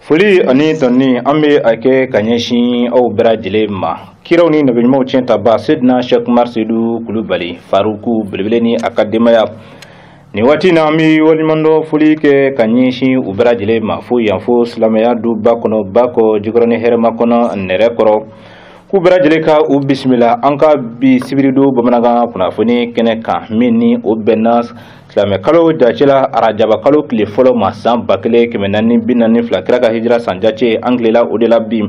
foli ani tanuni an bɛ a kɛ ka ɲɛsin aw bɛɛ lajɛlen ma kiraw ni nabiɲumanw tiɲɛ ta ba sedina sɛk umar sedu kulubali faruku belebele ni a ka denbaya nin waati in na an bɛ waleɲumandɔn foli kɛ ka ɲɛsin u bɛɛ lajɛlen ma fo yan fo silamɛya du ba kɔnɔ bakɔ jikɔrɔni hɛrɛmakɔnɔ nɛrɛkɔrɔ k'u bɛɛ lajɛlen ka u bisimila an ka bi sibiridon bamanankan kunnafoni kɛnɛ kan min ni o bɛnna silamɛ kalo jace la arajaba kalo tile fɔlɔ ma san ba kelen kɛmɛ naani bi naani fila kira ka hijira san jace an tilela o de la bi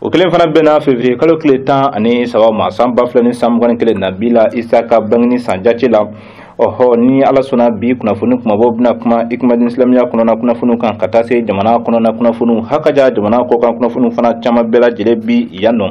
o kelen fana bɛnna fevriye kalo tile tan ani saba ma san ba fila ni san mugan ni kelen nabila isa ka bangini san jace la ɔhɔ ni ala sɔnna bi kunnafoni kumabaw bɛna kuma ikumadin silamɛya kɔnɔna kunnafoniw kan ka taa se jamana kɔnɔna kunnafoniw hakaja jamana kɔkan kunnafoniw fana caman bɛɛ lajɛlen bi yan nɔ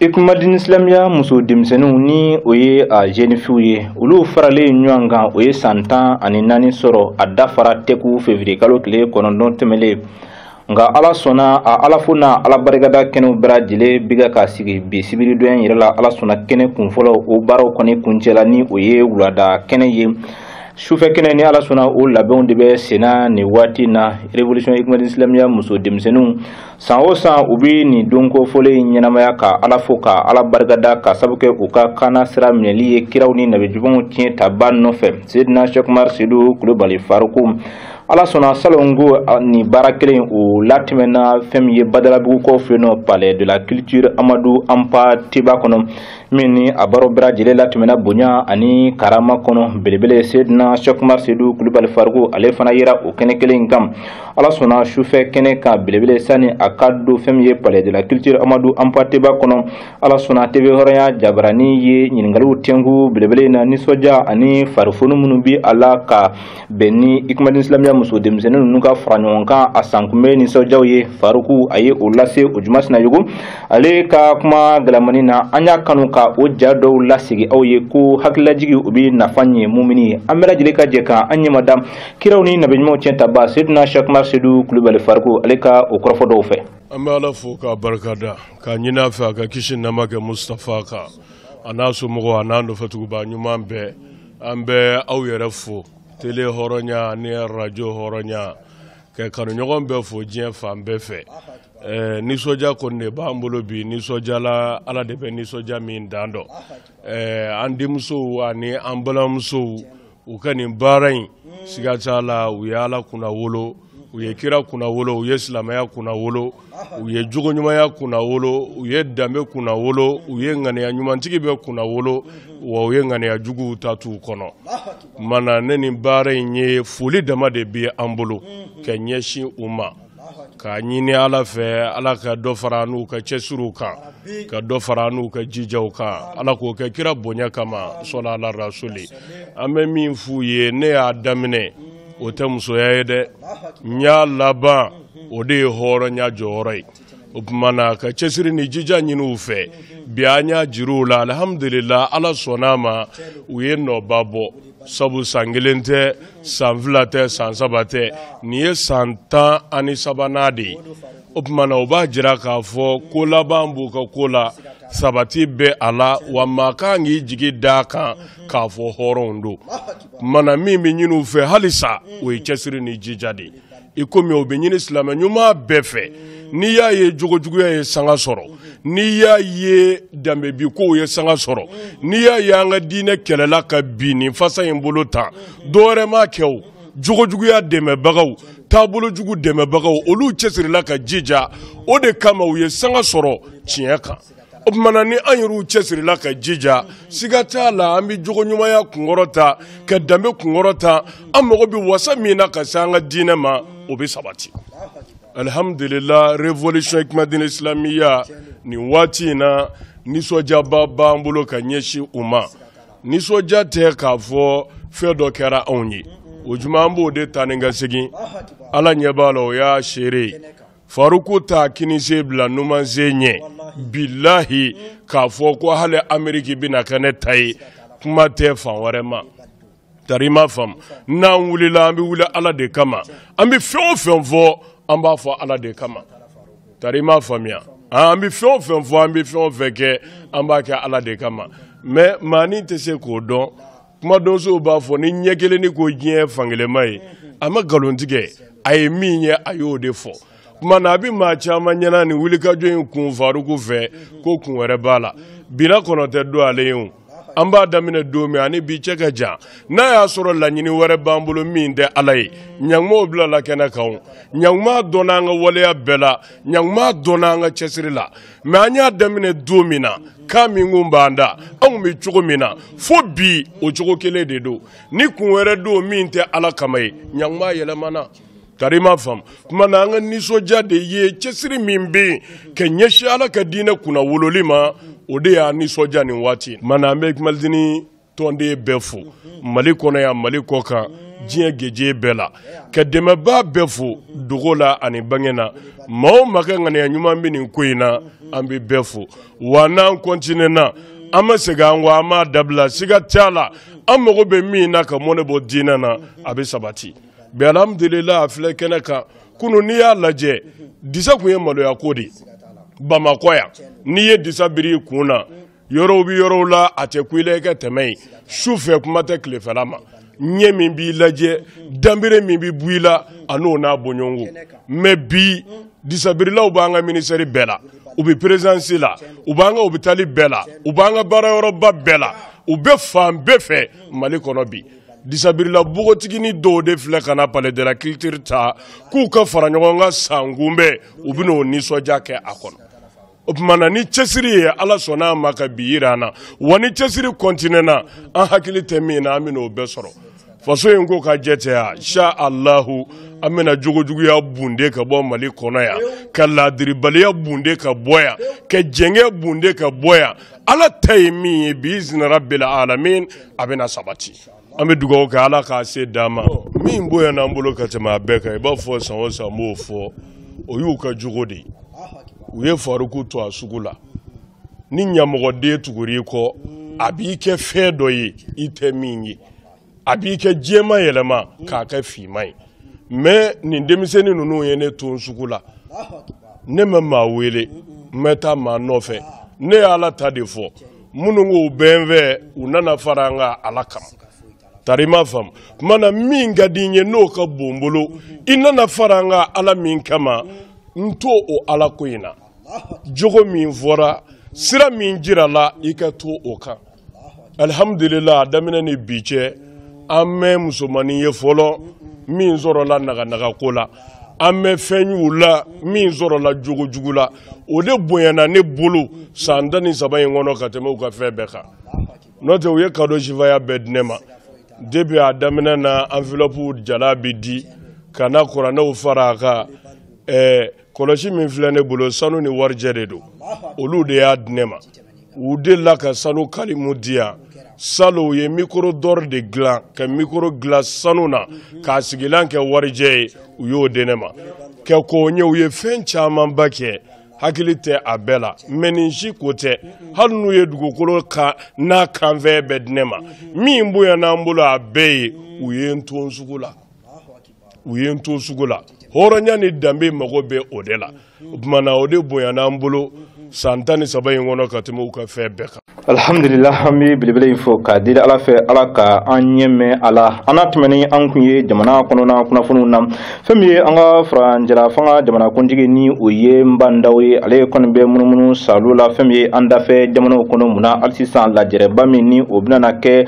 ikumadin silamɛya muso denmisɛnninw ni o ye a zenifiw ye olu faralen ɲɔgɔn kan o ye san tan ani naani sɔrɔ a dafara tɛku fevriye kalo tile kɔnɔntɔn tɛmɛlen nka ala sɔnna a ala fo n'a ala barikada kɛnɛw bɛɛ lajɛlen bɛ ka sigi bi sibiridon yɛrɛ la ala sɔnna kɛnɛ kun fɔlɔ o baaraw kɔni kuncɛla ni o ye wulada kɛnɛ ye sufɛ kɛnɛ ni ala sɔnna o labɛnw de bɛ senna nin waati na revolution ikumadin silamɛya muso denmisɛnninw san o san u bɛ nin don kofɔlen in ɲɛnamaya ka ala fo ka ala barikada ka sabu kɛ u ka kaana sira minɛli ye kiraw ni nabiɲumanw tiɲɛ ta ba nɔfɛ sedina sɛk umar sedu kulubali faruku ala sɔnna salon ko nin baara kelen o latɛmɛna fɛn min ye badalabugukaw fɛ yen nɔ palais de la culture amadu anpate ba kɔnɔ min ni a baaraw bɛɛ lajɛlen latɛmɛna bonya ani karama kɔnɔ belebele sedina sɛkumar sedu kulubali faruku ale fana yera o kɛnɛ kelen in kan ala sɔnna sufɛ kɛnɛ kan belebele sani a ka don fɛn min ye palais de la culture amadu anpate ba kɔnɔ ala sɔnna teve hɔrɔnya jabarani ye ɲininkaliw tɛnku belebele in na nisɔndiya ani farifoni minnu bi a la ka bɛn ni ikumadin silamɛya muso denmisɛnnin ninnu ka fara ɲɔgɔn kan a sankunbɛn nisɔndiyaw ye faruku a ye o lase ojuma sinayogo ale ka kuma galamani na an y'a kanu ka o ja dɔw lasegin aw ye ko hakililajigi o bɛ nafa ɲɛ mumini ye an bɛɛ lajɛlen ka jɛ ka an ɲɛmada kiraw ni nabiɲumanw tiɲɛ ta ba sedina sɛk umar sedu kulubali faruku ale ka o kɔrɔfɔ dɔw fɛ an bɛ ala fo k'a barikada k'a ɲini a fɛ a ka kisi nɛɛma kɛ mustafa kan a n'a somɔgɔw a n'a nɔfɛtuguba ɲuman bɛɛ an bɛ aw yɛrɛ fo tele hɔrɔnya ni arajo hɔrɔnya ka kanuɲɔgɔn bɛɛ fo diɲɛ fan bɛɛ fɛ eh, nisɔndiya kɔni de b'an bolo bi nisɔndiya la ala de bɛ nisɔndiya min dan dɔn eh, an denmusow ani an balimamusow u ka nin baara in siga t'a la u ye ala kunnawolo u ye kira kunna wolo u ye silamɛya kunna wolo u ye jogo ɲumanya kunna wolo u ye danbe kunna wolo u ye ŋaniya ɲumantigi bɛɛ kunna wolo wa u ye ŋaniya juguw ta t'u kɔnɔ mana ne ni baara in ye foli dama de bɛ an bolo ka ɲɛsin u ma k'a ɲini ala fɛ ala ka dɔ fara n'u ka cɛsiriw kan ka dɔ fara n'u ka jijaw kan ala k'o kɛ kira bonya kama sɔla ala rasuli an bɛ min f'u ye ne y'a daminɛ o tɛ musoya ye dɛ n y'a laban o de ye hɔrɔnya jɔyɔrɔ ye o tuma na ka cɛsiri ni jija ɲini u fɛ bi an y'a jir'u la alihamudulila ala sɔnna a ma u ye nɔba bɔ sabu san kelen tɛ san fila tɛ san saba tɛ nin ye san tan ani sabanan de ye o tuma na o b'a jira k'a fɔ ko laban b'u ka ko la sabati bɛ a la wa maa ka kan k'i jigi d'a kan k'a fɔ hɔrɔnw don mana min bɛ ɲini u fɛ halisa o ye cɛsiri ni jija de ye i komi o bɛ ɲini silamɛ ɲuman bɛɛ fɛ n'i y'a ye jogojuguya ye sanga sɔrɔ n'i y'a ye danbebinkow ye sanga sɔrɔ n'i y'a ye an ka diinɛ kɛlɛla ka bin nin fasa in bolo tan dɔ wɛrɛ m'a kɛ o jogojuguya dɛmɛbagaw taabolojugu dɛmɛbagaw olu cɛsirila ka jija o de kama u ye sanga sɔrɔ tiɲɛ kan o tuma na ni an yɛrɛw cɛsirila ka jija siga t'a la an bɛ jogoɲumanya kunkɔrɔta ka danbe kunkɔrɔta an mago bɛ wasa min na ka se an ka diinɛ ma o bɛ sabati alihamudulila révolution ikumadini isilamiya nin waati in na nisɔndiyaba b'an bolo ka ɲɛsin u ma nisɔndiya tɛ k'a fɔ fɛn dɔ kɛra anw ye o juma an b'o de ta ni ka segin ala ɲɛ b'a la o y'a seere ye faruku t'a kininsen bila numansen ɲɛ bilahi k'a fɔ ko hali ameriki bɛna kɛ ne ta ye kuma tɛ fan wɛrɛ ma tari i m'a faamu n'an wulila an bɛ wuli ala de kama an bɛ fɛn o fɛn fɔ an b'a fɔ ala de kama Tari i m'a faamuya an bɛ fɛn o fɛn fɔ an bɛ fɛn o fɛn kɛ an b'a kɛ Ala de kama mais maa ni tɛ se k'o dɔn kuma donsow b'a fɔ ni ɲɛkelennin ko diɲɛ fankelenma ye a ma nkalon tigɛ a ye min ye a y'o de fɔ tuma na a bɛ maa caman ɲɛna nin wulikajɔ in kun Faruku fɛ ko kun wɛrɛ b'a la bina kɔnɔ tɛ don ale ye o an b'a daminɛ don min ani bi cɛ ka jan n'a y'a sɔrɔ laɲini wɛrɛ b'an bolo min tɛ ala ye ɲanguma o bilala kɛnɛ kan ɲanguma dɔnna an ka waleya bɛɛ la ɲanguma dɔnna an ka cɛsiri la mais an y'a daminɛ don min na kan min kun b'an da anw bɛ cogo min na fo bi o cogo kelen de don ni kun wɛrɛ don min tɛ ala kama ye ɲanguma yɛlɛmana Tari ma faamu tuma na an ka nisɔndiya de ye cɛsiri min bɛ yen ka ɲɛsi ala ka diinɛ kunnawololi ma o de y'an nisɔndiya nin waati ma an bɛ mad tɔnden bɛɛ fo mali kɔnɔ yan mali kɔkan diɲɛ gese bɛɛ la ka dɛmɛbaa bɛɛ fo dogo la ani bange na maa o maa ka ŋaniya ɲuman bɛ nin ko in na an bɛ bɛɛ fo wa n'an kɔntinɛna an ma segin an kɔ an m'a dabila siga t'a la an mago bɛ min na ka mɔnɛ bɔ diinɛ na a bɛ sabati bi alhamdulila a filɛ kɛnɛ kan kunu n'i y'a lajɛ disa kun ye maloya ko de bamakɔ yan n'i ye disa biri i kun na yɔrɔw bɛ yɔrɔw la a tɛ kun i la i ka tɛmɛ yen su fɛ kuma tɛ tilefɛla ma ɲɛ min b'i lajɛ danbere min bɛ bu i la an'o n'a bɔɲɔgɔnko mɛ bi disabirilaw b'an ka minisɛri bɛɛ la u bɛ perezidansi la u b'an ka opitali bɛɛ la u b'an ka baarayɔrɔba bɛɛ la u bɛ fan bɛɛ fɛ mali kɔnɔ bi disabirila bogotigini dɔw de filɛ ka na palais de la culture ta k'u ka fara ɲɔgɔn kan san kunbɛn u bɛna o nisɔndiya kɛ a kɔnɔ o tuma na ni cɛsiri ye ala sɔnna a ma ka bi yira an na wa ni cɛsiri kɔntinɛna an hakili tɛ min na an bɛna o bɛɛ sɔrɔ faso in ko ka jɛ tɛ ya insha alahu an bɛna jogojuguya bunde ka bɔ mali kɔnɔ yan ka laadiribaliya bunde ka bɔ yan ka jɛngɛ bunde ka bɔ yan ala ta ye min ye biizini rabil alamin a bɛna sabati an bɛ dugawu kɛ ala k'a se d'an ma min bonyana n bolo ka tɛmɛ a bɛɛ kan i b'a fɔ san o san n b'o fɔ o y'u ka jogo de ye u ye faruku to a sugu la ni ɲamɔgɔden tugura i kɔ a b'i kɛ fɛn dɔ ye i tɛ min ye a b'i ka jɛman yɛlɛma k'a kɛ finman ye mɛ nin denmisɛnnin ninnu ye ne to n sugu la ne ma maa wele n ma taa maa nɔfɛ ne ye ala ta de fɔ minnu k'u bɛ n fɛ u nana fara an kan ala kama tari ma faamu tuma na min ka di n ye n'o ka bon n bolo i nana fara an kan ala min kama n to o ala ko in na jogo min fɔra sira min jirala i ka to o kan alihamudulila a daminɛ ni bi cɛ an ma musomanin ye fɔlɔ min sɔrɔla naganagako la an ma fɛn y'u la min sɔrɔla jogo jugu la o de bonyana ne bolo san tan ni saba in kɔnɔ ka tɛmɛ u ka fɛn bɛɛ kan n'o tɛ u ye kado sifaya bɛɛ di ne ma depi a daminɛ na anfilɔpu jala bɛ di ka na kuranɛw fara a kan ɛɛ kɔlɔsi min filɛ ne bolo sanu ni warijɛ de don olu de y'a di ne ma u delila ka sanu kalimu di yan salon u ye mikoro dɔri de dilan ka mikoro dilan sanu na k'a sigilan kɛ warijɛ ye u y'o di ne ma kɛ k'o ɲɛ u ye fɛn camanba kɛ hakili tɛ a bɛɛ la mɛ nin si ko tɛ hali n'u ye dugukolo n'a kanfɛn bɛɛ di ne ma min bonyana n bolo a bɛɛ ye u ye n to n sugu la u ye n to sugu la hɔrɔnya ni danbe mago bɛ o de la o tuma na o de bonyana an bolo san tan ni saba in kɔnɔ ka tɛmɛ u ka fɛn bɛɛ kan alhamdulila an bɛ belebele in fɔ k'a deli ala fɛ ala ka an ɲɛ mɛn a la an na tɛmɛ ni an kun ye jamana kɔnɔna kunnafoniw na fɛn min ye an ka furancɛla fanga jamanakuntigi ni o ye nba ndaw ye ale kɔni bɛ munumunu saalo la fɛn min ye an dafɛ jamanaw kɔnɔ mun na hali sisan lajɛrɛba min ni o bɛna kɛ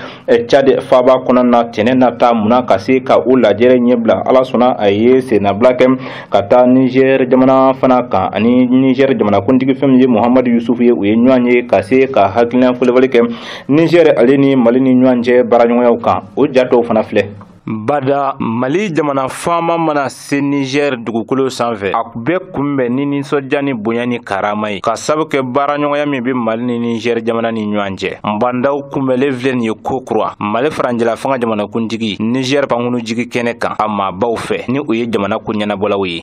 cadi faaba kɔnɔ na tɛnɛ nata munna ka se ka o lajɛrɛ ɲɛbila ala sɔnna a ye sennabila kɛ ka taa nizɛr jamana fana kan ani nizɛr jamanakuntigi fɛn min ye muhamadu yusufu ye u ye ɲɔgɔn ye ka se ka hakilina falenfalen kɛ nizɛr ale ni mali ni ɲɔgɔn cɛ baaraɲɔgɔnyaw kan o ja dɔw fana filɛ Bada mali jamana faama mana se niger dugukolo sanfɛ a bɛ kunbɛn ni nisɔndiya ni bonya ni karama ye k'a sabu kɛ baaraɲɔgɔnya min bɛ mali ni niger jamana ni ɲɔgɔn cɛ nba ndaw kunbɛnlen filɛ nin ye ko kura mali furancɛla fanga jamanakuntigi niger pankunu jigi kɛnɛ kan a maabaw fɛ ni o ye jamana ko ɲɛnabɔlaw ye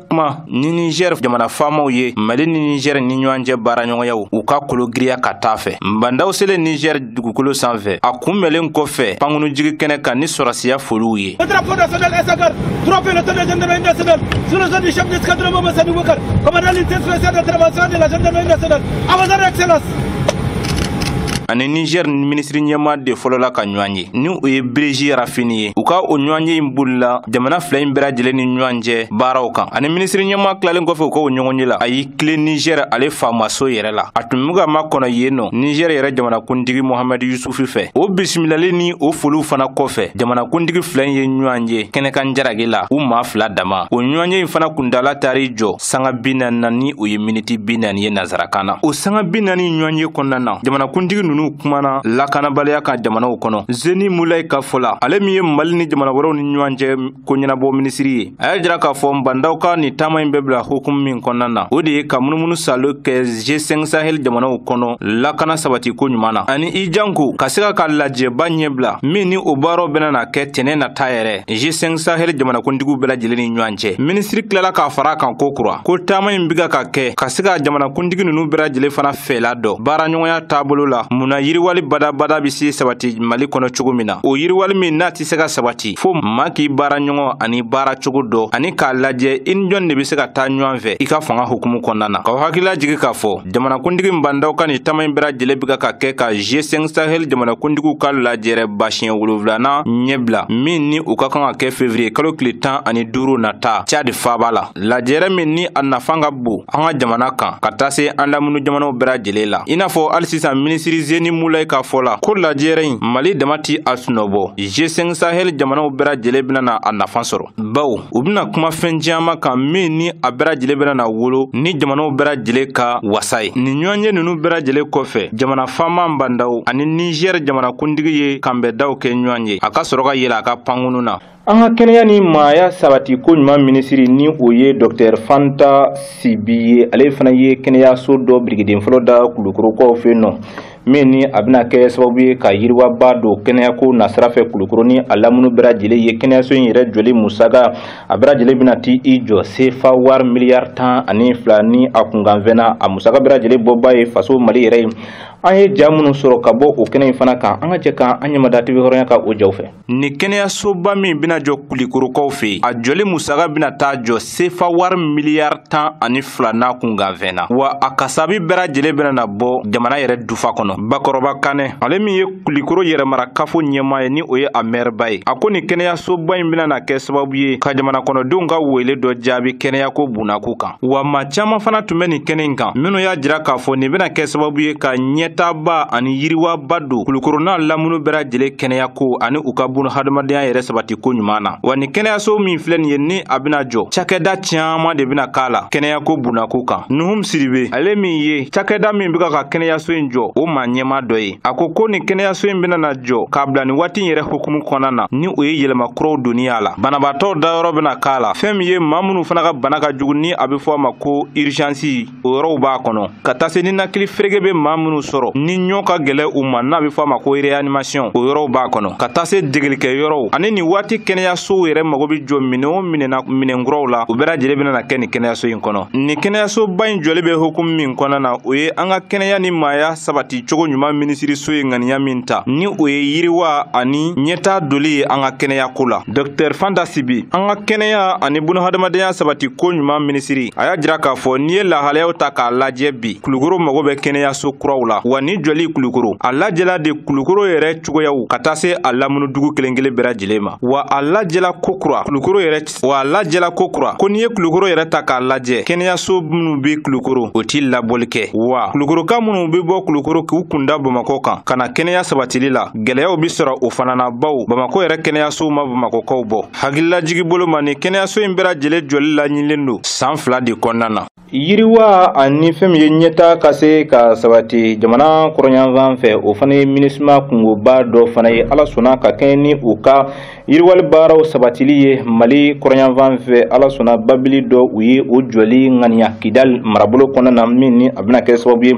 kuma ni nizɛr jamana faamaw ye mali ni nizɛr ni ɲɔgɔn cɛ baaraɲɔgɔnyaw u ka kologiriya ka taa fɛ ba ndaw selen nizɛr dugukolo sanfɛ a kunbɛlen kɔfɛ pankunujigi kɛnɛ kan ni sɔrɔsiya foliw ye a ni nizɛr minisiri ɲɛmaa de fɔlɔla ka ɲɔgɔn ye ni o ye biriji rafini ye u ka o ɲɔgɔnye in bolila jamana fila in bɛɛ lajɛlen ni ɲɔgɔn cɛ baaraw kan a ni minisiri ɲɛmaa tilalen kɔfɛ u ka o ɲɔgɔnye la a y'i tilen nizɛr ale faamaso yɛrɛ la a tun bɛ ka makɔnɔ yen nɔ nizɛr yɛrɛ jamanakuntigi mohamɛd yusufu fɛ o bisimilali ni o foliw fana kɔfɛ jamanakuntigi fila in ye ɲɔgɔn ye kɛnɛkan jarage la u maa fila dama o ɲɔgɔnye in fana kuntaala taar'i jɔ sanga bi naani na ni o ye miniti bi naani ye nansarakan na o sanga bi naani ɲɔgɔn ye kɔnɔna na jamanakuntigi ninnu kumana lakanabaliya kan jamanaw kɔnɔ zeni mulayi ka fɔ la ale min ye mali ni jamana wɛrɛw ni ɲɔgɔn cɛ ko ɲɛnabɔ minisiri ye a y'a jira k'a fɔ nba ndaw ka nin taama in bɛ bila hukumu min kɔnɔna na o de ye ka munumunu saalo kɛ g5 sahel jamanaw kɔnɔ lakana sabati ko ɲuman na ani i janko ka se ka ka lajɛba ɲɛbila min ni o baaraw bɛna na kɛ tɛnɛ nata yɛrɛ g5 sahel jamanakuntigiw bɛɛ lajɛlen ni ɲɔgɔn cɛ minisiri tilala k'a fara a kan ko kura ko taama in bi ka ka kɛ ka se ka jamanakuntigi ninnu bɛɛ lajɛlen fana fɛla dɔn baaraɲɔgɔnya taabolo la mun na yiriwali badabada bɛ se sabati mali kɔnɔ cogo min na o yiriwali min n'a tɛ se ka sabati fo maa k'i baaraɲɔgɔn ani baara cogo dɔn ani k'a lajɛ i ni jɔn de bɛ se ka taa ɲɔgɔn fɛ i ka fanga hukumu kɔnɔna na k'aw hakili lajigi k'a fɔ jamanakuntigi ba ndaw ka nin taama in bɛɛ lajɛlen bɛ ka kɛ ka g5 sahel jamanakuntigiw ka lajɛrɛba siɲɛ wolonwulanan ɲɛbila min ni o ka kan ka kɛ fevriye kalo tile tan ani duuru nata cadi faaba la lajɛrɛ min ni a nafan ka bon an ka jamana kan ka taa se an lamunu jamanaw bɛɛ lajɛlen la i n'a fɔ hali sisan minisiri zeni mulai ka fɔ la ko lajɛrɛ in mali dama ti a sunɔbɔ g5 sahel jamanaw bɛɛ lajɛlen bɛna na a nafan sɔrɔ baw u bɛna kuma fɛn caman kan min ni a bɛɛ lajɛlen bɛna na wolo ni jamanaw bɛɛ lajɛlen ka wasa ye nin ɲɔgɔnye ninnu bɛɛ lajɛlen kɔfɛ jamana faama bandaw ani nizɛri jamanakuntigi ye kanbɛndaw kɛ ɲɔgɔn ye a ka sɔrɔ ka yɛlɛ a ka pankunu na an ka kɛnɛya ni maaya sabati ko ɲuman minisiri ni o ye dɔktɛr fanta sibi ye ale fana ye kɛnɛyaso dɔ birikiden fɔlɔ da kulukorokaw fɛ nɔ min ni a bɛna kɛ sababu ye ka yiriwaba don kɛnɛyako nasira fɛ kulukoro ni a lamunu bɛɛ lajɛlen ye kɛnɛyaso in yɛrɛ jɔli musaka a bɛɛ lajɛlen bɛna t'i jɔ sefa wari miliyari tan ani fila ni a kunkanfɛn na a musaka bɛɛ lajɛlen bɔba ye faso mali yɛrɛ ye an ye ja minnu sɔrɔ ka bɔ o kɛnɛ in fana kan an ka jɛ ka an ɲɛmada tv hɔrɔnya ka o jaw fɛ Nin kɛnɛyasoba min bɛna jɔ kulikorokaw fɛ yen a jɔli musaka bɛna taa jɔ sefa wari miliyari tan ani fila n'a kunkanfɛn na wa a kasabi bɛɛ lajɛlen bɛna na bɔ jamana yɛrɛ dufa kɔnɔ bakɔrɔba kanɛ ale min ye kulikoro yɛrɛmara kafo ɲɛmaa ye ni o ye a mɛriba ye a ko nin kɛnɛyasoba in bɛna na kɛ sababu ye ka jamana kɔnɔdenw ka wele dɔ jaabi kɛnɛyako bunnako kan wa maa caman fana tun bɛ nin kɛnɛ in kan minnu y'a jira k'a fɔ nin bɛna kɛ sababu ye ka ɲɛtaaba ani yiriwaba don kulukoro n'a lamunu bɛɛ lajɛlen kɛnɛyako ani u ka bun hadamadenya yɛrɛ sabati ko ɲuman na wa ni kɛnɛyaso min filɛ nin ye ni a bɛna jɔ cakɛda caman de bɛna k'a la kɛnɛyako bunnako kan nuhum sidibe ale min ye cakɛda min bɛ ka ka kɛnɛyaso in jɔ o maa ɲɛma dɔ ye a ko ko nin kɛnɛyaso in bɛna na jɔ k'a bila nin waati in yɛrɛ hukumu kɔnɔna na ni o ye yɛlɛma kuraw donni a la banabaatɔw dayɔrɔ bɛna k'a la fɛn min ye maa minnu fana ka bana ka jugu ni a bɛ fɔ a ma ko urizansi o yɔrɔw b'a kɔnɔ ka taa se ninakili ferege bɛ maa minnu sɔrɔ ni ɲɔ ka gɛlɛ u ma n'a bɛ fɔ a ma ko reyanimasiɔn o yɔrɔw b'a kɔnɔ ka taa se degelikɛyɔrɔw ani nin waati kɛnɛyasow yɛrɛ mago bɛ jɔ minɛn o minɛn na minɛn kuraw la u bɛɛ lajɛlen bɛna na kɛ nin kɛnɛyaso in kɔnɔ nin kɛnɛyasoba in jɔli bɛ hukumu min kɔnɔna na o ye an ka kɛnɛya ni maaya sabati cogo ɲuman minisiriso ye ŋaniya min ta ni o ye yiriwa ani ɲɛtaa doli ye an ka kɛnɛyako la dɔktɛr fanta sibi an ka kɛnɛya ani bunahadamadenya sabati ko ɲuman minisiri a y'a jira k'a fɔ n'i ye lahalayaw ta k'a lajɛ bi kulukoro mago bɛ kɛnɛyaso kuraw la wa nin jɔli kulukoro a lajɛla de kulukoro yɛrɛ cogoyaw ka taa se a lamunu dugu kelen kelen bɛɛ lajɛlen ma wa a lajɛla kokura kulukoro yɛrɛ wa a lajɛla kokura ko n'i ye kulukoro yɛrɛ ta k'a lajɛ kɛnɛyaso minnu be kulukoro u tɛ labɔli kɛ wa kulukoroka minnu be bɔ kulukoro k'u kunda bamakɔ kan ka na kɛnɛya sabatili la gwɛlɛyaw be sɔrɔ o fana na baw bamakɔ yɛrɛ kɛnɛyasow ma bamakɔkaw bɔ hakililajigi bolo ma ni kɛnɛyaso in bɛɛ lajɛlen jɔli laɲinilen don san fila de kɔnɔna na yiriwa ani fɛn min ye ɲɛtaa ka se ka sabati jamana kɔrɔnyanfan fɛ o fana ye minusima kunkoba dɔ fana ye ala sɔnna ka kɛɲɛ ni u ka yiriwali baaraw sabatili ye mali kɔrɔnyanfan fɛ ala sɔnna babili dɔ u ye o jɔli ŋaniya kidali marabolo kɔnɔna na min ni a bɛna kɛ sababu ye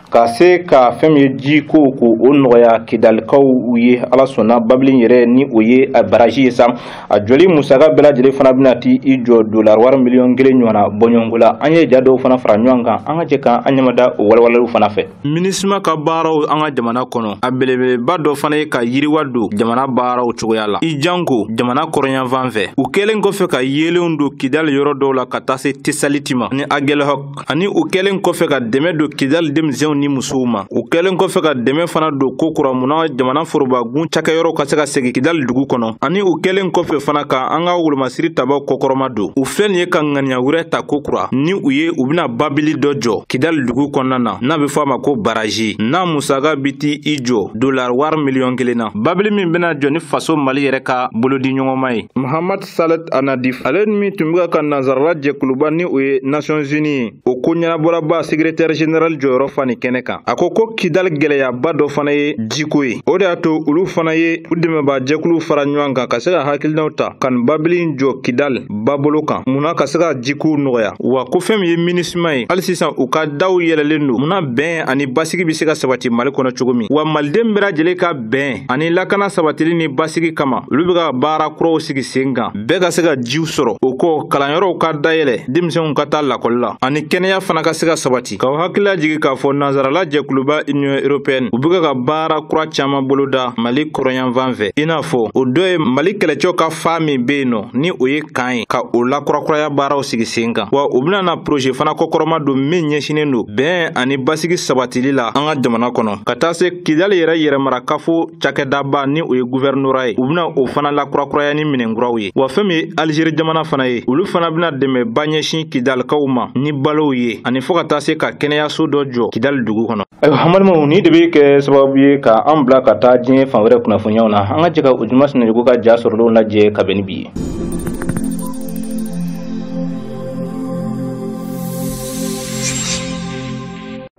ka se ka fɛn min ye jiko k'o nɔgɔya kidalikaw ye ala sɔnna babili yɛrɛ ni o ye baraji ye sa a jɔli musaka bɛɛ lajɛlen fana bɛna ti i jɔ dolar wari miliyɔn kelen ɲɔgɔnna bɔɲɔgɔnko la an ye ja dɔw fana fara ɲɔgɔn kan an ka jɛ k'an an ɲɛmada o walawalaliw fana fɛ minisima ka baaraw an ka jamana kɔnɔ a belebeleba dɔ fana ye ka yiriwa don jamana baaraw cogoya la i janko jamana kɔrɔnyanfan fɛ u kɛlen kɔfɛ ka yeelenw don kidali yɔrɔ dɔw la ka taa se tesaliti ma ni agɛlɛhɔk ani u kɛlen kɔfɛ ka dɛmɛ don kidali denmisɛnw ni musow ma u kɛlen kɔfɛ ka dɛmɛ fana don ko kura mun na jamana forobagun cakɛyɔrɔw ka se ka segin kidali dugu kɔnɔ ani u kɛlen kɔfɛ fana ka an ka wolomasiri tabaw kɔkɔrɔma don u filɛ nin ye ka ŋaniya wɛrɛ ta ko kura ni u ye u bena babili dɔ jɔ kidali dugu kɔnɔna na n'a be fɔ a ma ko baraji n'a musaka bi ti i jɔ dolar wari miliyɔn kelen na babili min bena jɔ ni faso mali yɛrɛ ka bolodiɲɔgɔnma ye muhamad Salet Annadif ale min tun bɛ ka nansarala jɛkuluba ni o ye Nations Unies ye o ko ɲɛnabɔlaba secrétaire général jɔyɔrɔ fa nin kɛnɛ kan a ko ko Kidali gɛlɛyaba dɔ fana ye jiko ye o de y'a to olu fana ye u dɛmɛbaa jɛkuluw fara ɲɔgɔn kan ka se ka hakilinaw ta ka nin babili in jɔ Kidali babolo kan mun na ka se ka jikow nɔgɔya wa ko fɛn min ye minisima ye hali sisan u ka daw yɛlɛlen don mun na bɛn ani basigi bɛ se ka sabati Mali kɔnɔ cogo min wa maliden bɛɛ lajɛlen ka bɛn ani lakana sabatili ni basigi kama olu bɛ ka baara kuraw sigi sen kan bɛɛ ka se ka jiw sɔrɔ o kɔ kalanyɔrɔw ka dayɛlɛ denmisɛnw ka taa lakɔli la ani kɛnɛya fana ka se ka sabati k'aw hakili lajigi k'a fɔ nansarala jɛkuluba union européenne u bɛ ka baara kura caman boloda mali kɔrɔnyanfan fɛ i n'a fɔ o dɔ ye mali kɛlɛcɛw ka faa min bɛ yen nɔ ni o ye kan ye ka o lakurakuraya baaraw sigi sen kan wa u bɛna na projet fana kɔkɔrɔma don min ɲɛsinnen don bɛn ani basigi sabatili la an ka jamana kɔnɔ ka taa se Kidali yɛrɛ yɛrɛmarakafo cakɛdaba ni o ye guvɛrinora ye u bɛna o fana lakurakuraya ni minɛn kuraw ye wa fɛn min ye alizeri jamana fana ye olu fana bɛna dɛmɛba ɲɛsin kidalikaw ma ni balow ye ani fɔɔ ka taa se ka kɛnɛyaso dɔ jɔ kidali dugu kɔnɔ ayiwa an balimaw nin de bɛ kɛ sababu ye ka an bila ka taa diɲɛ fan wɛrɛ kunnafoniyaw na an ka jɛ ka ojuma sinayɔgɔ ka ja sɔrɔlenw lajɛ ka bɛn ni bi ye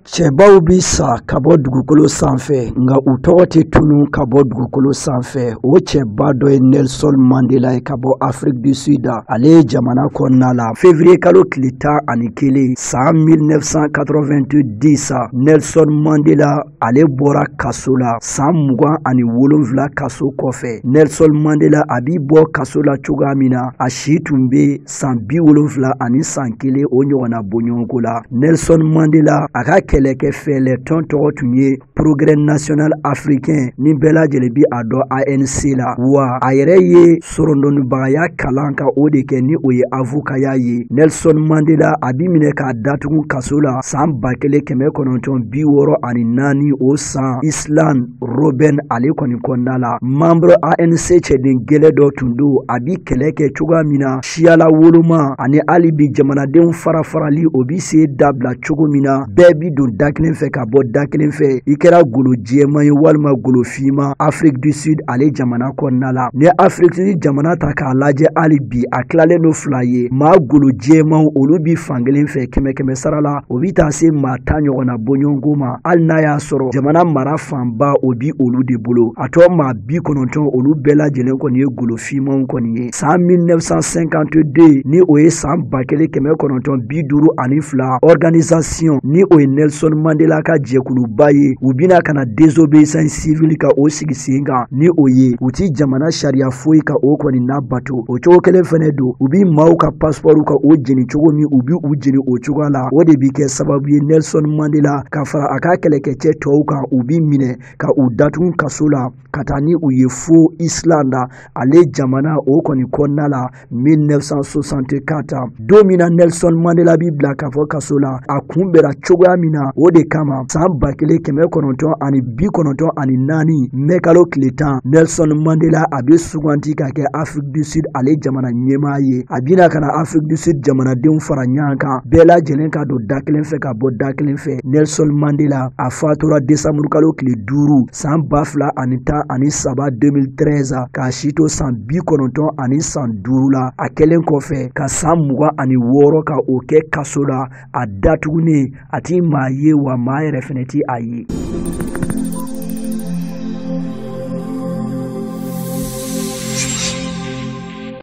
Cɛbaw bɛ sa ka bɔ dugukolo sanfɛ nka u tɔgɔ tɛ tunun ka bɔ dugukolo sanfɛ o cɛba dɔ ye Nelson Mandela ye ka bɔ Afrique du Sud ale ye jamana kɔnɔna la février kalo tile tan ani kelen san 1990 sa Nelson Mandela ale bɔra kaso la san mugan ani wolonfila kaso kɔfɛ Nelson Mandela a bi bɔ kaso la cogoya min na a si tun bɛ san bi wolonfila ani san kelen o ɲɔgɔnna bɔɲɔgɔnko la nelson mandela a ka kɛlɛkɛ fɛɛlɛ tɔn tɔgɔ tun ye progrès national africain ni bɛɛ lajɛlen bi a dɔn anc la wa a yɛrɛ ye sorondonnibagaya kalan ka o de kɛ ni o ye avokaya ye nelson mandela a bi minɛ k'a datugu kaso la san ba kelen kɛmɛ kɔnɔntɔn bi wɔɔrɔ ani naani o san island Robben ale kɔni kɔnɔna la membre ANC cɛden gɛlɛ dɔ tun don a bi kɛlɛ kɛ cogoya min na siyala woloma ani hali bi jamanadenw farafarali o bi se dabila cogo min na bɛɛ bi don da kelen fɛ ka bɔ da kelen fɛ i kɛra golo jɛman ye walima golo fiman Afrique du Sud ale jamana kɔnɔna la n'i Afrique du Sud jamana ta k'a lajɛ hali bi a tilalen don fila ye maa golo jɛmanw olu bi fankelen fɛ kɛmɛ kɛmɛ sara la o bi taa se maa tan ɲɔgɔnna bɔɲɔgɔnko ma hali n'a y'a sɔrɔ jamana mara fanba o bi olu de bolo a tɔ maa bi kɔnɔntɔn olu bɛɛ lajɛlen kɔni ye golo fimanw kɔni ye saan 1952 ni o ye saan ba kelen kɛmɛ kɔnɔntɔn bi duuru ani fila organisation ni o ye nelson mandela ka jɛkuluba ye u bina ka na désobéissance civile ka o sigi sen kan ni o ye u ti jamana sariya foyi ka o kɔni nabato to o cogo kelen fɛnɛ don u bi maaw ka pasipɔriw ka o jeni cogo min u bi u jeni o cogoya la o de bi kɛ sababu ye nelson mandela ka fara a ka kɛlɛkɛcɛ tɔw kan u bi minɛ ka u datugu kaso la ka taa ni u ye fo island ale jamana o kɔni kɔnɔna la 1964 don min na nelson mandela bi bila k'a fɔ kaso la a kunbɛra cogoya min na o de kama saan ba kelen kɛmɛ kɔnɔntɔn ani bi kɔnɔntɔn ani naani mɛ kalo tile tan nelson mandela a be suganti ka kɛ afrik du sud ale jamana ɲɛmaa ye a bina ka na afrik du sud jamanadenw fara ɲɔgɔn kan bɛɛ lajɛlen ka don da kelen fɛ ka bɔ da kelen fɛ nelson mandela a fatura desanburukalo tile duuru san ba fila ani tan ani saba 2013 k'a si to san bi kɔnɔntɔn ani san duuru la a kɛlen kɔfɛ ka san mugan ani wɔɔrɔ ka o kɛ kaso la a datugunen a ti maa ye wa maa yɛrɛ fɛnɛ ti a ye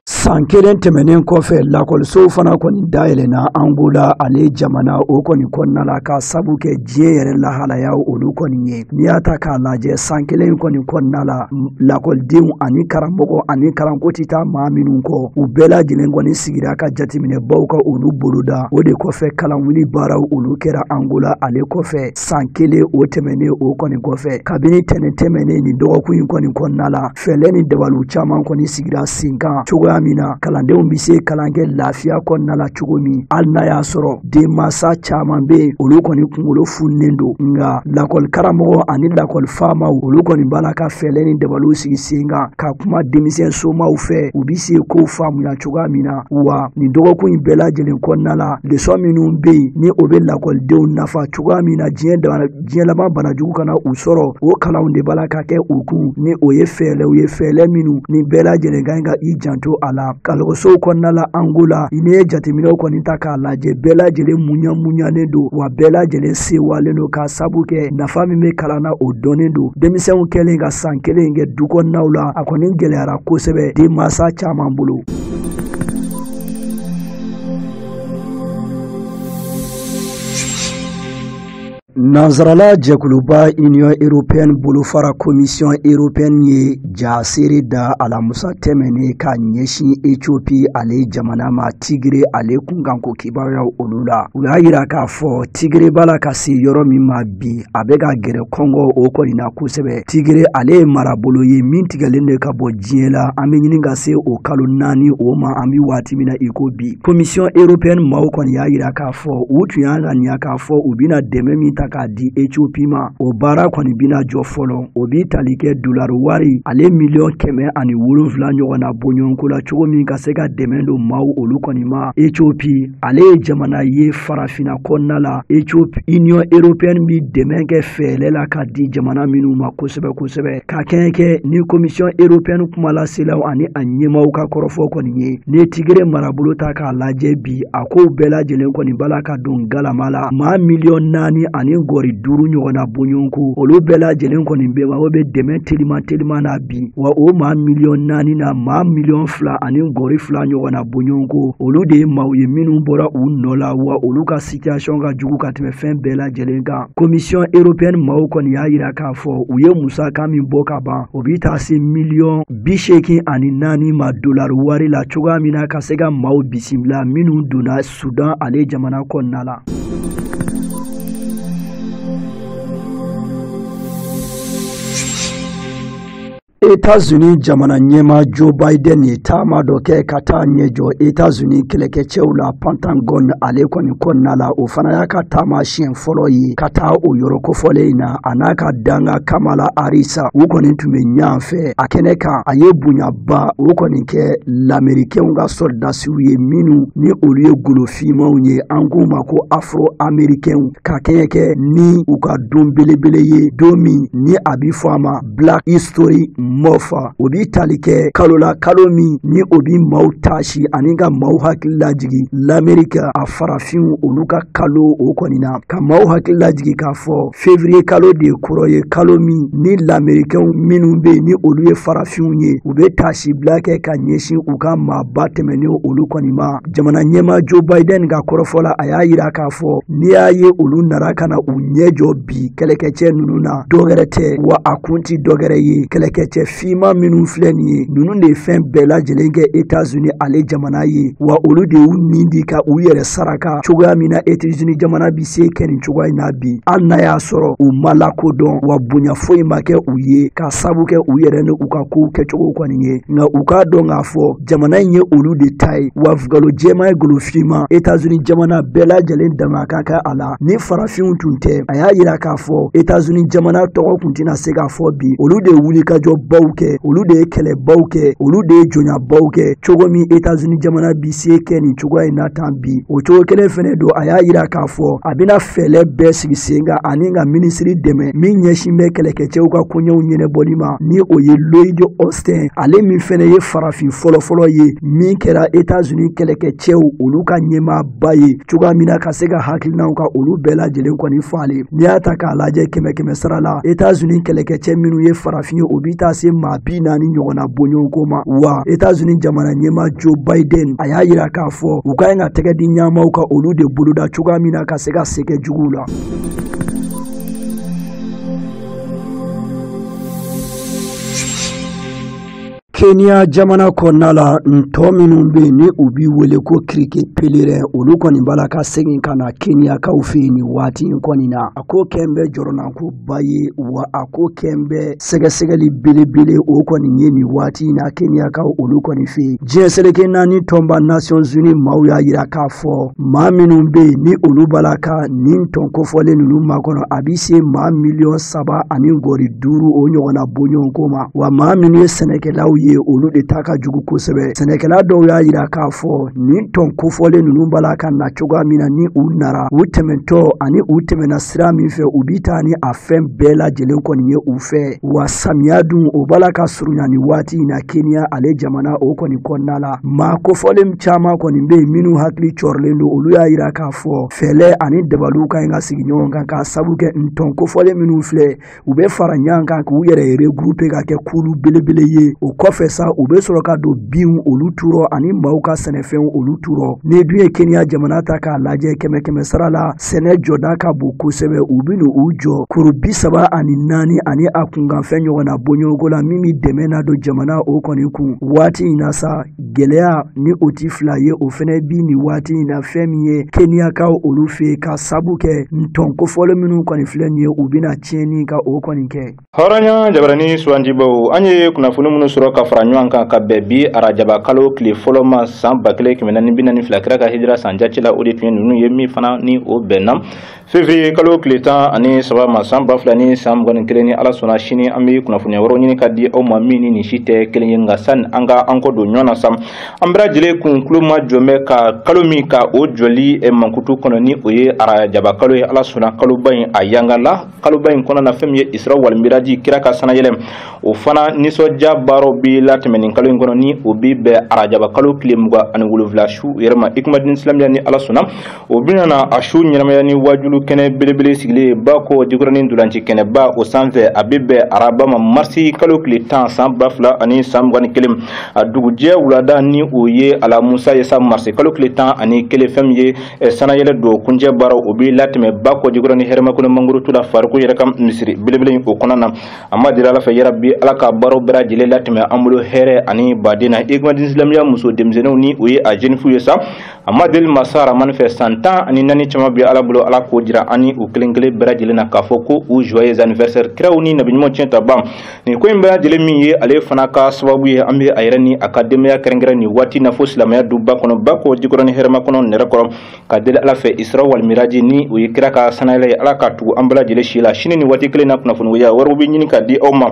san kelen tɛmɛnen kɔfɛ lakɔlisow fana kɔni dayɛlɛna angola ale jamana o kɔni kɔnɔna la k'a sabu kɛ diɲɛ yɛrɛ lahalayaw olu kɔni ye n'i y'a ta k'a lajɛ san kelen kɔni kɔnɔna la lakɔlidenw ani karamɔgɔ ani kalanko ti taa maa minnu kɔ u bɛɛ lajɛlen kɔni sigira ka jateminɛbaw ka olu boloda o de kɔfɛ kalanwuli baaraw olu kɛra angola ale kɔfɛ san kelen o tɛmɛnen o kɔni kɔfɛ kabini tɛnɛn tɛmɛnen nin dɔgɔkun in kɔni kɔnɔna la fɛlɛ ni dabaliw caman kɔni sigira sen kan cogoya min na kalandenw be se kalan kɛ lafiya kɔnɔna la cogo min hali n'a y'a sɔrɔ denmasa caaman be yen olu kɔni kungolo fununen don nka lakɔli karamɔgɔ ani lakɔli faamaw olu kɔni b'a la ka fɛlɛ ni dabaliw sigi sen kan ka kuma denmisɛn somaw fɛ u be se kow faamuya cogoya min na wa nin dɔgɔkun in bɛɛ lajɛlen kɔnɔna la lesɔn minnu bɛ yen ni o bɛ lakɔlidenw nafa cogoya min na diɲɛ laban banajugu kana u sɔrɔ o kalanw de b'a la ka kɛ u kun ni o ye fɛɛlɛw ye fɛɛlɛ minnu ni bɛɛ lajɛlen ka ɲi ka i janto a la kalɔgɔsow kɔnɔna la angola n'i ye jateminɛw kɔni ta k'a lajɛ bɛɛ lajɛlen muɲa muɲalen don wa bɛɛ lajɛlen sewalen don k'a sabu kɛ nafa min bɛ kalan na o dɔnnen don denmisɛnw kɛlen ka san kelen kɛ du kɔnɔnaw la a kɔni gɛlɛyara kosɛbɛ denmansa caman bolo Nansarala jɛkuluba Union européenne bolofara commission européenne ye jaseere da alamusa tɛmɛnen ka ɲɛsin Ethiopie ale jamana ma Tigre ale kunkanko kibaruyaw olu la. U y'a yira k'a fɔ Tigre b'a la ka se yɔrɔ min ma bi a bɛ ka gɛrɛ kɔngɔ o kɔni na kosɛbɛ tigre ale ye marabolo ye min tigɛlen de ka bɔ diɲɛ la an bɛ ɲini ka se o kalo naani o ma an bɛ waati min na i ko bi commission européenne maaw kɔni y'a yira k'a fɔ u tun y'a ŋaniya k'a fɔ u bɛna dɛmɛ min ta k'a di ethiopie ma o baara kɔni bɛna jɔ fɔlɔ o bɛ tali kɛ dolari wari ale miliyɔn kɛmɛ ani wolonfila ɲɔgɔn na bɔɲɔgɔnko la cogo min ka se ka dɛmɛ don maaw olu kɔni ma ethiopie ale ye jamana ye farafinna kɔnɔna la ethiopie union européenne bi dɛmɛ kɛ fɛɛlɛ la ka di jamana minnu ma kosɛbɛ kosɛbɛ ka kɛɲɛ kɛ ni commission européenne kumalaselaw ani a ɲɛmaw ka kɔrɔfɔ kɔni ye ni tigre marabolo ta k'a lajɛ bi a kow bɛɛ lajɛlen kɔni b'a la ka don galama la maa miliyɔn naani ani gɔri duuru ɲɔgɔn na bɔɲɔgɔnko olu bɛɛ lajɛlen kɔni bɛɛ mako bɛ dɛmɛ teliman teliman na bi wa o maa miliyɔn naani na maa miliyɔn fila ani gɔri fila ɲɔgɔn na bɔɲɔgɔnko olu de ye maaw ye minnu bɔra u nɔ la wa olu ka situation ka jugu ka tɛmɛ fɛn bɛɛ lajɛlen kan commission européenne maaw kɔni y'a yira k'a fɔ u ye musaka min bɔ ka ban o bɛ taa se miliyɔn bi seegin ani naani ma dolari wari la cogoya min na ka se ka maaw bisimila minnu donna Sudan ale jamana kɔnɔna la. Etats-Unis jamana ɲɛma Joe Biden ye taama dɔ kɛ ka taa ɲɛ jɔ Etats-Unis kɛlɛkɛcɛw la Pentagon ale kɔni kɔnɔna la o fana y'a ka taama siɲɛ fɔlɔ ye ka taa o yɔrɔ kofɔlen in na a n'a ka dankan kamala harris u kɔni tun bɛ ɲɔgɔn fɛ a kɛnɛ kan a ye bonyaba o kɔni kɛ lamerikɛnw ka sɔrɔdasiw ye minnu ni olu ye golofinmaw ye an k'u ma ko afro amerikɛnw ka kɛɲɛ kɛ ni u ka don belebele ye don min ni a bɛ fɔ a ma black history month o bi tali kɛ kalo la kalo min ni o bi maw taasi ani ka maw hakili lajigi lamerika a farafinw olu ka kalo o kɔni na ka maw hakili lajigi k'a fɔ fevriye kalo de kɔrɔ ye kalo min ni lamerikɛnw minnu be ni olu ye farafinw ye u be taasibila kɛ ka ɲɛsin u ka maaba tɛmɛnen olu kɔni ma jamana ɲɛmaa joe biden ka kɔrɔfɔ la a y'a yira k'a fɔ n'i y'a ye olu nara ka na u ɲɛ jɔ bi kɛlɛkɛcɛ ninnu na dɔgɛrɛ tɛ wa a kun ti dɔgɛrɛ ye kɛlɛkɛcɛ fiman minnu filɛ nin ye ninnu de ye fɛn bɛɛ lajɛlen kɛ etazuni ale jamana ye wa olu de y'u nin di ka u yɛrɛ saraka cogoya min na etazuni jamana bi se kɛ nin cogoya in na bi hali n'a y'a sɔrɔ u ma lakodɔn wa bonya foyi ma kɛ u ye ka sabu kɛ u yɛrɛ ni u ka kow kɛcogo kɔni ye nka u k'a dɔn k'a fɔ jamana in ye olu de ta ye wa u golo jɛma ye golo fiman etazuni jamana bɛɛ lajɛlen dama ka kan a la ni farafinw tun tɛ a y'a yira k'a fɔ etazuni jamana tɔgɔ tun tɛna se ka fɔ bi olu de ye wulikajɔbaw kɛ olu de ye kɛlɛbaw kɛ olu de ye jɔnyabaw kɛ cogo min etazuni jamana bi se kɛ nin cogoya in na tan bi o cogo kelen fɛnɛ don a y'a yira k'a fɔ a bɛna fɛɛlɛ bɛɛ sigi sen kan ani ka minisiri dɛmɛ min ɲɛsin bɛ kɛlɛkɛcɛw ka koɲɛw ɲɛnɛbɔli ma ni o ye lloyd austin ale min fɛnɛ ye farafin fɔlɔfɔlɔ ye min kɛra etazuni kɛlɛkɛcɛw olu ka ɲɛmaa ba ye cogoya min na ka se ka hakilinaw ka olu bɛɛ lajɛlen kɔni falen n'i y'a ta k'a lajɛ kɛmɛ kɛmɛ sara la etazuni kɛlɛkɛcɛ minnu ye farafin ye o bi taa se maa bi naani ɲɔgɔnna bɔɲɔgɔnko ma wa etazuni jamana ɲɛmaa joe biden a y'a yira k'a fɔ u ka ɲi ka tɛgɛ di ɲɔgɔn ma ka olu de boloda cogoya min na ka se ka se kɛ juguw la keniya jamana kɔnɔna la ntɔn minnu bɛ yen ni u bi wele ko criquet pèlerin olu kɔni b'a la ka segin ka na keniyakaw fɛ yen nin waati in kɔni na a ko kɛn bɛ jɔrɔnankoba ye wa a ko kɛn bɛ sɛgɛsɛgɛli belebele o kɔni ye nin waati in na keniyakaw olu kɔni fɛ yen diɲɛ seleke naani tɔnba nations unies maaw y'a yira k'a fɔ maa minnu bɛ yen ni olu b'a la ka nin ntɔn kofɔlen ninnu makɔnɔ a bɛ se maa miliyɔn saba ani gɔri duuru o ɲɔgɔnna bɔɲɔgɔnko ma wa maa minnu ye sɛnɛkɛlaw ye olu de ta ka jugu kosɛbɛ sɛnɛkɛla dɔw y'a yira k'a fɔ nin ntɔn kofɔlen ninnu b'a la ka na cogoya min na ni u nara u tɛmɛntɔ ani u tɛmɛna sira min fɛ u bi taa ni a fɛn bɛɛ lajɛlen kɔni ye u fɛ wa samiya dun o b'a la ka surunya nin waati in na keniya ale jamana o kɔni kɔnɔna la maa kofɔlen caman kɔni bɛ yen minnu hakili jɔrɔlen don olu y'a yira k'a fɔ fɛɛlɛ ani dabaliw ka ɲi ka sigi ɲɔgɔn kan k'a sabu kɛ ntɔn kofɔlen minnu filɛ u bɛ fara ɲɔgɔn kan k'u yɛrɛ regrouper ka kɛ kulu belebele ye o kɔfɛ sa u bɛ sɔrɔ ka don binw olu turɔ ani maaw ka sɛnɛfɛnw olu turɔ n'i dun ye kenya jamana ta k'a lajɛ kɛmɛ kɛmɛ sara la sɛnɛ jɔda ka bon kosɛbɛ u bɛ n'u jɔ kuru bi saba ani naani ani a kunkanfɛn ɲɔgɔnna bɔɲɔgɔnko la min bɛ dɛmɛ na don jamana o kɔni kun waati in na sa Gɛlɛya ni o tɛ fila ye o fɛnɛ bi nin waati in na fɛn min ye keniyakaw olu fɛ ka sabu kɛ ntɔn kofɔlen minnu kɔni filɛ nin ye u bɛna tiɲɛni ka o kɔni kɛ. hɔrɔnya jabarani sugandibaw an ye kunnafoni minnu sɔrɔ ka fara ɲɔgɔn kan ka bɛn bi arajaba kalo tile fɔlɔ ma san ba kelen kɛmɛ naani bi naani fila kira ka hijira san jate la o de tun ye ninnu ye min fana ni o bɛnna Fevrier kalo tile tan ani saba ma san ba fila ni san mugan ni kelen ni ala sɔnna sini an bɛ kunnafoniya wɛrɛw ɲini ka di aw ma min ni nin si tɛ kelen ye nka sani an ka an kɔ don ɲɔgɔn na sa an bɛɛ lajɛlen kun tulomajɔ bɛ ka kalo min ka o jɔli mankutu kɔnɔ ni o ye arajaba kalo ye ala sɔnna kaloba in a yanga la kaloba in kɔnɔna fɛn min ye isira walimiraji kira ka sanayɛlɛ o fana nisɔndiya baaraw bɛ latɛmɛ nin kalo in kɔnɔ ni o bɛ bɛn arajaba kalo tile mugan ani wolonwula su yɛrɛ ma ikumadin silamɛya ni ala sɔnna o bɛna na a su ɲɛnamaya ni waajulu kɛnɛ belebele sigilen ye bakɔ jikɔrɔnin ntolanci kɛnɛba o sanfɛ a bɛ bɛn araba ma marisi kalo tile tan san ba fila ani san mugan ni kelen a dugujɛ wulada ni o ye alamusa ye sa marisi kalo tile tan ani kelen fɛn min ye eh, sanayɛlɛ don kuncɛ baara o bɛ latɛmɛ bakɔ jikɔrɔnin hɛrɛmakɔnɔ mangoro tu la fariku yɛrɛ ka misiri belebele o kɔnɔna na an b'a deli ala fɛ yarabi ala ka baaraw bɛɛ lajɛlen latɛmɛ an bolo hɛrɛ ani baden na ikumadin silamɛya muso denmisɛnninw ni o ye a jenifu ye sa an b'a deli masa ramani fɛ san tan ani naani caman bɛ ala bolo ala k'o jira an ni u kelen kelen bɛɛ lajɛlen na k'a fɔ ko u joyeux anniversaire kiraw ni nabiɲumanw tiɲɛtabaa nin ko in bɛɛ lajɛlen min ye ale fana ka sababu ye an bɛ a yɛrɛ ni a ka denbaya kɛrɛnkɛrɛn nin waati na fo silamɛya duba kɔnɔ bakɔ jikɔrɔnin hɛrɛmakɔnɔ nɛrɛkɔrɔ ka deli ala fɛ isra walimiraji ni o ye kira ka sanayɛlɛ ye ala ka tugu an bɛɛ lajɛlen si la sini nin waati kelen na kunnafoniya wɛrɛw bɛ ɲini ka di aw ma